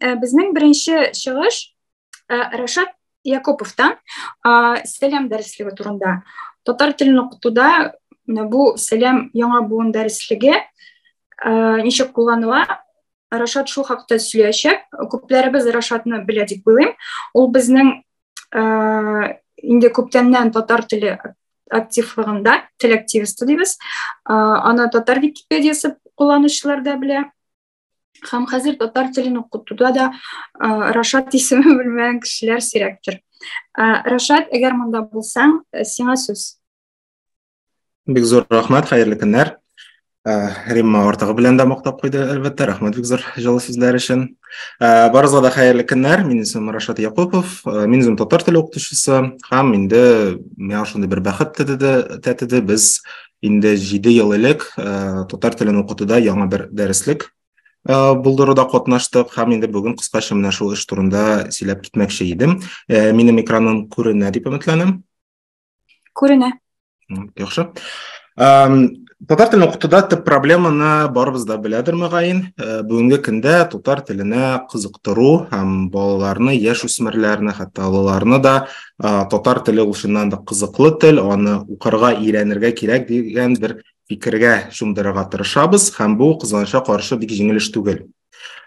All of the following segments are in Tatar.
Э, безнең беренче чыгыш э, Рашат Якуповтан сәлам дәреслеге турында. Татар телен укытуда бу сәлам яңа буын дәреслеге э, ничек кулланыла? Рашат шул хакта сөйләячәк. Күпләребез Рашатны белә дип уйлыйм. Ул безнең инде күптәннән татар теле активлыгында тел активисты дибез аны татар википедиясы кулланучылар да белә һәм хәзер татар телен укытуда да рашат исеме белмәгән кешеләр сирәктер рашат әгәр монда булсаң сиңа сүз бик зур рәхмәт хәерле көннәр Э, Римма ортыгы белән дә мактап куйды, әлбәттә. Рәхмәт бик зур җылы сүзләр өчен. Э, барыгызга да хәерле көннәр. Мин исемем Рашат Якупов. Э, мин үзем татар теле укытучысы һәм инде миңа шундый бер бәхет тәтеде. Без инде 7 ел элек татар телен укытуда яңа бер дәреслек булдыруда катнаштык һәм инде бүген кыскача менә шул эш турында сөйләп китмәкче идем. Минем экраным күренә дип өметләнәм. Күренә. Яхшы. Татар телен укытуда төп проблеманы барыбыз да беләдер мөгаен. Э, бүгенге көндә татар теленә кызыктыру һәм балаларны, яшь үсмерләрне, хәтта олыларны да э, татар теле ул чыннан да кызыклы тел, аны укырга, өйрәнергә кирәк дигән бер фикергә чумдырырга тырышабыз һәм бу кызганычка каршы бик җиңел эш түгел.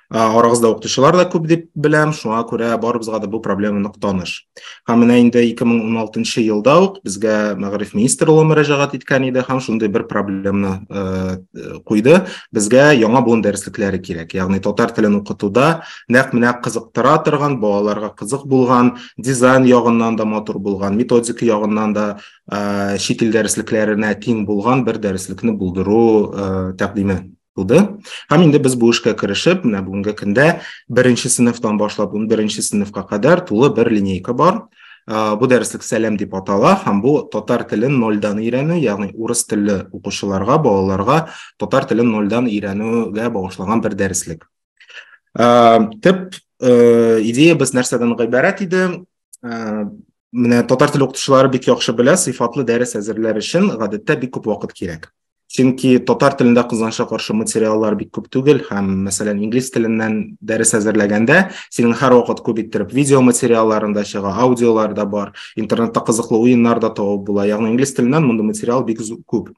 арагызда укытучылар да күп дип беләм шуңа күрә барыбызга да бу проблема нык таныш һәм менә инде 2016 елда ук безгә мәгариф министры улы мөрәҗәгать иткән иде һәм шундый бер проблеманы э, куйды безгә яңа буын дәреслекләре кирәк ягъни татар телен укытуда нәкъ менә кызыктыра торган балаларга кызык булган дизайн ягыннан да матур булган методика ягыннан да э, чит ил дәреслекләренә тиң булган бер дәреслекне булдыру э, тәкъдиме туды һәм инде без бу эшкә керешеп менә бүгенге көндә беренче сыйныфтан башлап ун беренче сыйныфка кадәр тулы бер линейка бар бу дәреслек сәлам дип атала һәм бу татар телен нольдан өйрәнү ягъни урыс телле укучыларга балаларга татар телен нольдан өйрәнүгә багышланган бер дәреслек төп идеябез нәрсәдән гыйбарәт иде менә татар теле укытучылары бик яхшы белә сыйфатлы дәрес әзерләр өчен гадәттә бик күп вакыт кирәк чөнки татар телендә кызганычка каршы материаллар бик күп түгел һәм мәсәлән инглиз теленнән дәрес әзерләгәндә синең һәрвакыт күп иттереп видео материалларың да чыга аудиолар да бар интернетта кызыклы уеннар да табып була ягъни инглиз теленнән мондый материал бик күп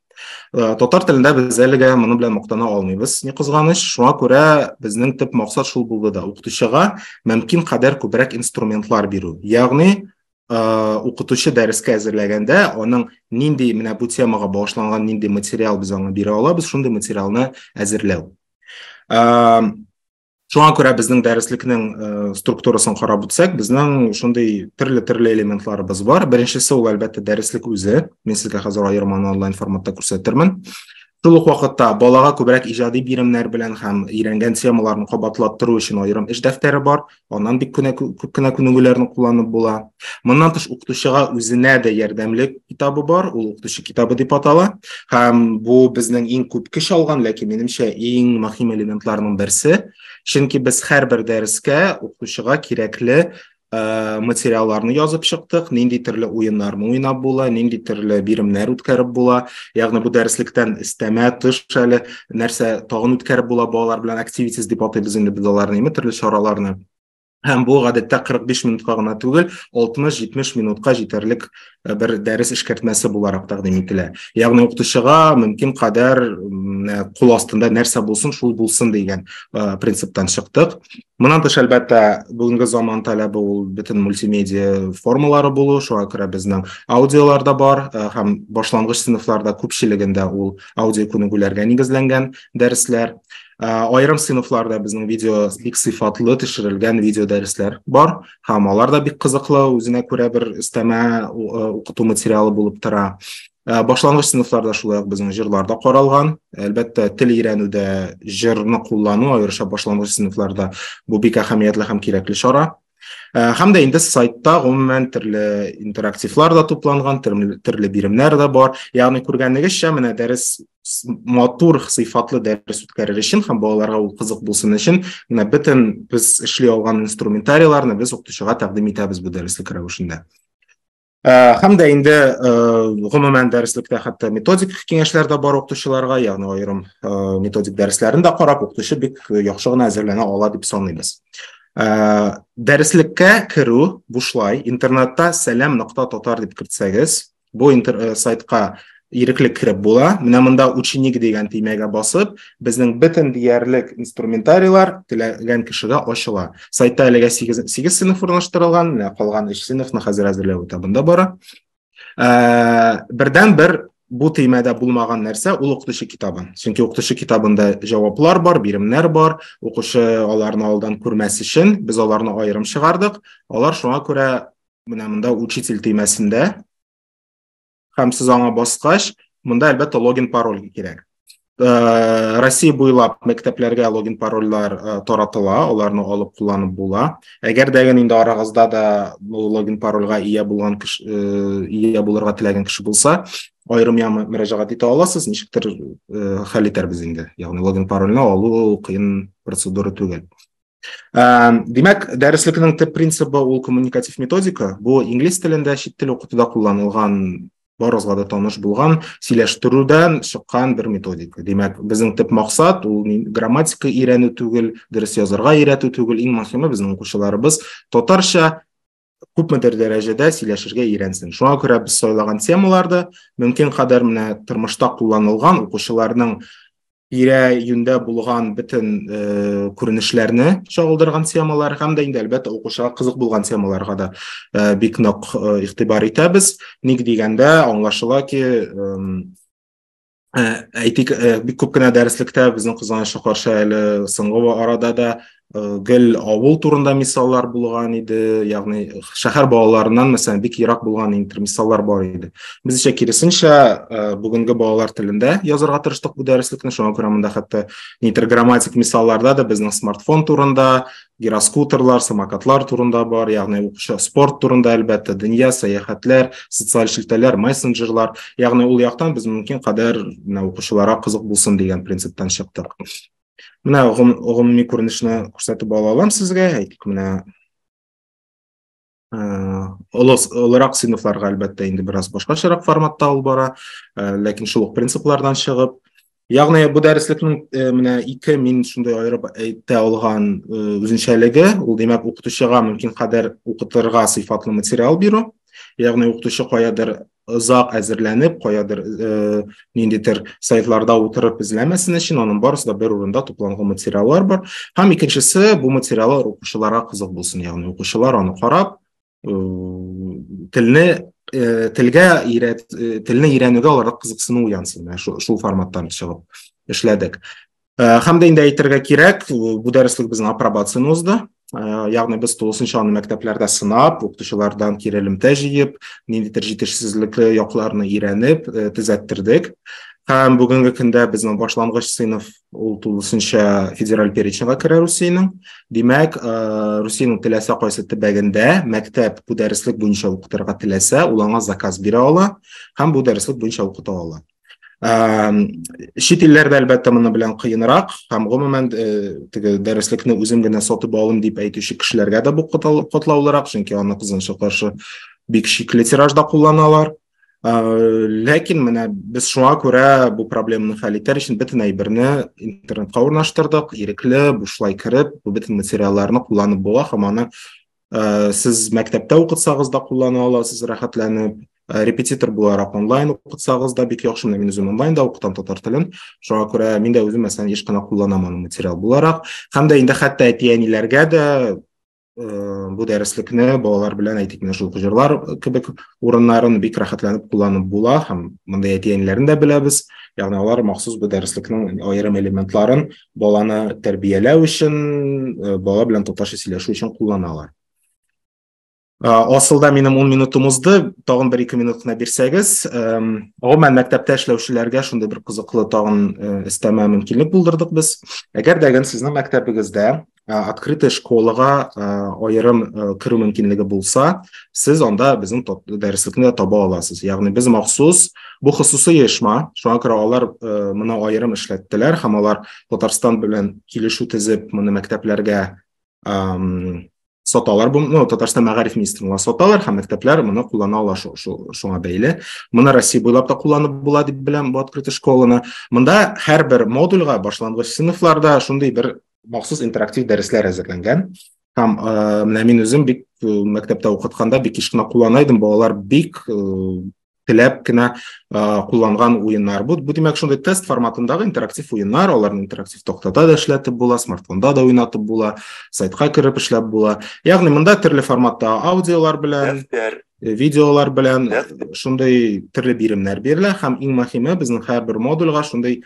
э, татар телендә без әлегә моның белән мактана алмыйбыз ни кызганыч шуңа күрә безнең төп максат шул булды да укытучыга мөмкин кадәр күбрәк инструментлар бирү ягъни укытучы дәрескә әзерләгәндә аның нинди менә бу темага багышланган нинди материал без аңа бирә алабыз шундый материалны әзерләү шуңа күрә безнең дәреслекнең структурасын карап үтсәк безнең шундый төрле төрле элементларыбыз бар беренчесе ул әлбәттә дәреслек үзе мин сезгә хәзер аерманы онлайн форматта күрсәтермен шул ук вакытта балага күбрәк иҗади биремнәр белән һәм өйрәнгән темаларын кабатлаттыру өчен аерым эш дәфтәре бар Аннан бик кенә күп кенә күнегүләрне кулланып була. Моннан тыш укытучыга үзенә дә ярдәмле китабы бар, ул укытучы китабы дип атала. Һәм бу безнең иң күп көч алган, ләкин минемчә иң мөһим элементларның берсе. Чөнки без һәрбер дәрескә укытучыга кирәкле Э, материалларны язып чыктык, нинди төрле уеннарны уйнап була, нинди төрле биремнәр үткәреп була. Ягъни бу дәреслектән истәмә тыш әле нәрсә тагын үткәреп була балалар белән активитис дип атыйбыз инде без аларны име төрле чараларны һәм бу гадәттә 45 минутка гына түгел 60-70 минутка җитәрлек э, бер дәрес эшкәртмәсе буларак тәкъдим ителә ягъни укытучыга мөмкин кадәр э, кул астында нәрсә булсын шул булсын дигән э, принциптан чыктык Моннан тыш, әлбәттә, бүгенге заман таләбе ул бөтен мультимедиа формалары булу, шуңа күрә безнең аудиолар да бар э, һәм башлангыч сыйныфларда күпчелегендә ул аудио күнегүләргә нигезләнгән дәресләр. Э, аерым сыйныфларда безнең видео бик сыйфатлы төшерелгән видео дәресләр бар һәм алар да бик кызыклы, үзенә күрә бер өстәмә э, укыту материалы булып тора. Ә, башлангыч сыйныфларда шулай ук безнең җырлар да каралган. Әлбәттә, тел өйрәнүдә җырны куллану, аеруча башлангыч сыйныфларда бу бик әһәмиятле һәм кирәкле чара. Ә, һәм дә инде сайтта гомумән төрле интерактивлар да тупланган, төрле биремнәр дә бар. Ягъни күргәнегезчә, менә дәрес матур сыйфатлы дәрес үткәрер өчен һәм балаларга ул кызык булсын өчен менә бөтен без эшли алган инструментарийларны без укытучыга тәкъдим итәбез бу дәреслек рәвешендә Э, һәм дә инде э, гомумән дәреслектә хәтта методик киңәшләр дә бар укытучыларга ягъни аерым э, методик дәресләрен дә карап укытучы бик яхшы гына әзерләнә ала дип саныйбыз дәреслеккә керү бушлай интернетта сәлам нокта татар дип кертсәгез бу сайтка ирекле кереп була. Менә монда ученик дигән төймәгә басып, безнең бөтен диярлек инструментарийлар теләгән кешегә ачыла. Сайтта әлегә 8, 8 сыйныф урнаштырылган, менә калган 3 сыйныфны хәзер әзерләү этабында бара. Ә, бердән бер бу төймәдә булмаган нәрсә ул укытучы китабы. Чөнки укытучы китабында җаваплар бар, биремнәр бар. Укучы аларны алдан күрмәс өчен без аларны аерым чыгардык. Алар шуңа күрә менә монда учитель төймәсендә һәм сез аңа баскач монда әлбәттә логин пароль кирәк Э, Россия буйлап мәктәпләргә логин парольләр э, таратыла, аларны алып кулланып була. Әгәр дә инде арагызда да бу логин парольгә ия булган кеше э, ия булырга теләгән кеше булса, аерым яңа мөрәҗәгать итә аласыз, ничектер хәл итәрбез инде. Ягъни логин парольне алу кыен процедура түгел. Димәк, дәреслекнең төп принцибы ул коммуникатив методика. Бу инглиз телендә чит тел укытуда кулланылган барыгызга да таныш булган сөйләштерүдән чыккан бер методика. Димәк, безнең төп максат ул грамматика өйрәнү түгел, дөрес язарга өйрәтү түгел, иң мөһиме безнең укучыларыбыз татарча күпмедер дәрәҗәдә сөйләшергә өйрәнсен. Шуңа күрә без сайлаган темаларды мөмкин кадәр менә тормышта кулланылган укучыларның тирә юньдә булган бөтен э, күренешләрне чагылдырган темалар һәм дә инде әлбәттә укучыга кызык булган темаларга да э, бик нык э, игътибар итәбез. Ник дигәндә, аңлашыла ки, э, Ә, әйтик, ә, бик күп кенә дәреслектә безнең кызганычка каршы әле соңгы арада да ә, гел авыл турында мисаллар булган иде, ягъни шәһәр балаларыннан мәсәлән бик ерак булган интер мисаллар бар иде. Без исә киресенчә ә, бүгенге балалар телендә язарга тырыштык бу дәреслекне, шуңа күрә монда хәтта интерграмматик мисалларда да безнең смартфон турында, гироскутерлар, самокатлар турында бар, ягъни укучы спорт турында әлбәттә, дөнья, сәяхәтләр, социаль шелтәләр, мессенджерлар, ягъни ул яктан без мөмкин кадәр менә укучыларга кызык булсын дигән принциптан чыктык. Менә гомуми күренешне күрсәтеп ала алам сезгә, әйтик, менә олырак сыйныфларга әлбәттә инде бераз башкачарак форматта алып бара ләкин шул ук принциплардан чыгып ягъни бу дәреслекнең менә ике мин шундый аерып әйтә алган үзенчәлеге ул димәк укытучыга мөмкин кадәр укытырга сыйфатлы материал бирү ягъни укытучы каядыр озак әзерләнеп, каядыр э, ниндидер сайтларда утырып эзләмәсен өчен, аның барысы да бер урында тупланган материаллар бар. Һәм икенчесе, бу материаллар укучыларга кызык булсын, ягъни укучылар аны карап, э, телне э, телгә ирәт, э, телне өйрәнүгә аларда кызыксыну уянсын. Менә шул, шул форматтан чыгып эшләдек. Э, һәм дә инде әйтергә кирәк, бу дәреслек безнең апробацияне узды. Э, ягъни без тулысынча аны мәктәпләрдә сынап, укытучылардан кире элемтә җыеп, ниндидер җитешсезлекле якларны өйрәнеп, э, төзәттердек. Һәм бүгенге көндә безнең башлангыч сыйныф ул тулысынча федераль переченьга керә Русиянең. Димәк, Русиянең теләсә кайсы төбәгендә мәктәп бу дәреслек буенча укытырга теләсә, ул аңа заказ бирә ала һәм бу дәреслек буенча укыта ала. чит илләрдә әлбәттә моны белән кыенрак һәм гомумән теге дәреслекне үзем генә сатып алым дип әйтүче кешеләргә дә бу катлаулырак чөнки аны кызганча каршы бик шикле тиражда кулланалар ләкин менә без шуңа күрә бу проблеманы хәл итәр өчен бөтен әйберне интернетка урнаштырдык ирекле бушлай кереп бөтен материалларны кулланып була һәм аны ә, сез мәктәптә укытсагыз да куллана аласыз рәхәтләнеп ә, репетитор буларак онлайн укытсагыз да бик яхшы менә мин үзем онлайн да укытам татар телен шуңа күрә мин дә үзем мәсәлән еш кына кулланам аны материал буларак һәм дә инде хәтта әти әниләргә дә ә, бу дәреслекне балалар белән әйтик менә шул җырлар кебек урыннарын бик рәхәтләнеп кулланып була һәм мондый әти әниләрен дә беләбез ягъни алар махсус бу дәреслекнең аерым элементларын баланы тәрбияләү өчен, э, бала белән татарча сөйләшү өчен кулланалар. Э, асылда минем 10 минутым узды, тагын 1-2 минут кына бирсәгез, гомумән мәктәптә эшләүчеләргә шундый бер кызыклы тагын эстәмә мөмкинлек булдырдык без. Әгәр дә сезнең мәктәбегездә открытый школага аерым керү мөмкинлеге булса, сез анда безнең дәреслекне дә таба аласыз. Ягъни без махсус бу хосусый оешма, шуңа күрә алар моны аерым эшләттеләр һәм алар Татарстан белән килешү төзеп, моны мәктәпләргә саталар бу ну татарстан мәгариф министрлыгына саталар һәм мәктәпләр моны куллана ала шуңа бәйле моны россия буйлап та кулланып була дип беләм бу открытый школаны монда һәрбер модульгә башлангыч сыйныфларда шундый бер махсус интерактив дәресләр әзерләнгән һәм э, менә мин үзем бик э, мәктәптә укытканда бик еш кына куллана идем балалар бик э, теләп кенә кулланган уеннар бу бу димәк шундый тест форматындагы интерактив уеннар аларны интерактив тактада да эшләтеп була смартфонда да уйнатып була сайтка кереп эшләп була ягъни монда төрле форматта аудиолар белән дәфтәр видеолар белән шундый төрле биремнәр бирелә һәм иң мөһиме безнең һәрбер модульгә шундый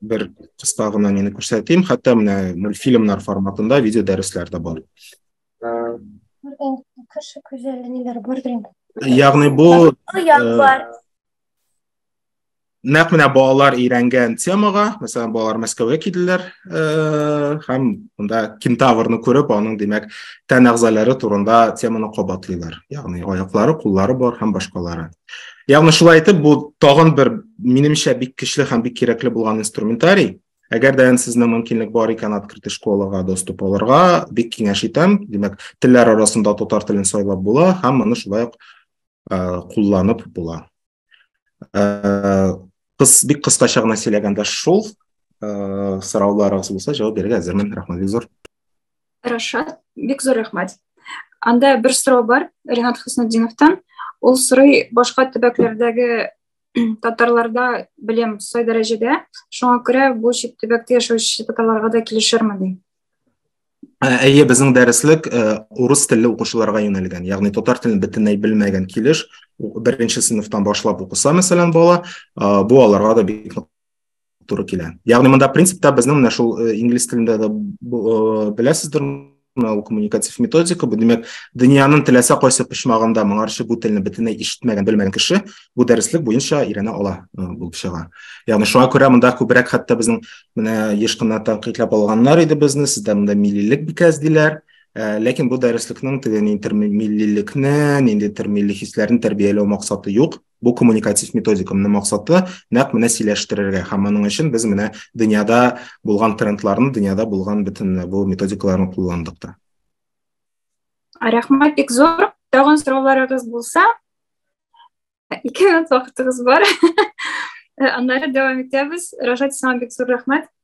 бер кыска гына нені күрсәтим хәтта менә мультфильмнар форматында видео дәресләр дә бар кеше күзәле ниләр бардыр инде ягъни бу э, нәкъ менә балалар өйрәнгән темага мәсәлән балалар мәскәүгә килделәр э, һәм монда кентаврны күреп аның димәк тән әгъзалары турында теманы кабатлыйлар ягъни аяклары куллары бар һәм башкалары Ягъни шулай итеп, бу тагын бер минемчә бик көчле һәм бик кирәкле булган инструментарий. Әгәр дә сезнең мөмкинлек бар икән открытый школага доступ алырга, бик киңәш итәм. Димәк, телләр арасында татар телен сайлап була һәм моны шулай ук кулланып була. Кыз бик кыскача гына сөйләгәндә шул, сорауларыгыз булса, җавап бирергә әзермен. Рәхмәт бик зур. рашат бик зур рәхмәт анда бер сорау бар ринат хөснетдиновтан ул сорый башка төбәкләрдәге татарларда белем сай дәрәҗәдә шуңа күрә бу чит төбәктә яшәүче татарларга да килешерме ди әйе безнең дәреслек урыс телле укучыларга юнәлгән ягъни татар телен бөтенләй белмәгән килеш беренче сыйныфтан башлап укыса мәсәлән бала бу аларга да бик туры килә ягъни монда принципта безнең менә шул э, инглиз телендә дә э, беләсездер мына ул коммуникатив методика бу димәк дөньяның теләсә кайсы почмагында моңарчы бу телне бөтенләй ишетмәгән белмәгән кеше бу дәреслек буенча өйрәнә ала э, булып чыга ягъни шуңа күрә монда күбрәк хәтта безнең менә еш кына тәнкыйтьләп алганнар иде безне сездә монда миллилек бикәс диләр Э, ләкин бу дәреслекнең теге интермиллилекне ниндидер милли хисләрне тәрбияләү максаты юк Бу коммуникатив методикамның максаты нәкъ менә сөйләштерергә һәм моның өчен без менә дөньяда булган трендларны, дөньяда булган бөтен бу методикаларны кулландык та. Рәхмәт бик зур. Тагын сорауларыгыз булса, ике минут вакытыгыз бар. Аннары дәвам итәбез. Рашат, сиңа бик зур рәхмәт.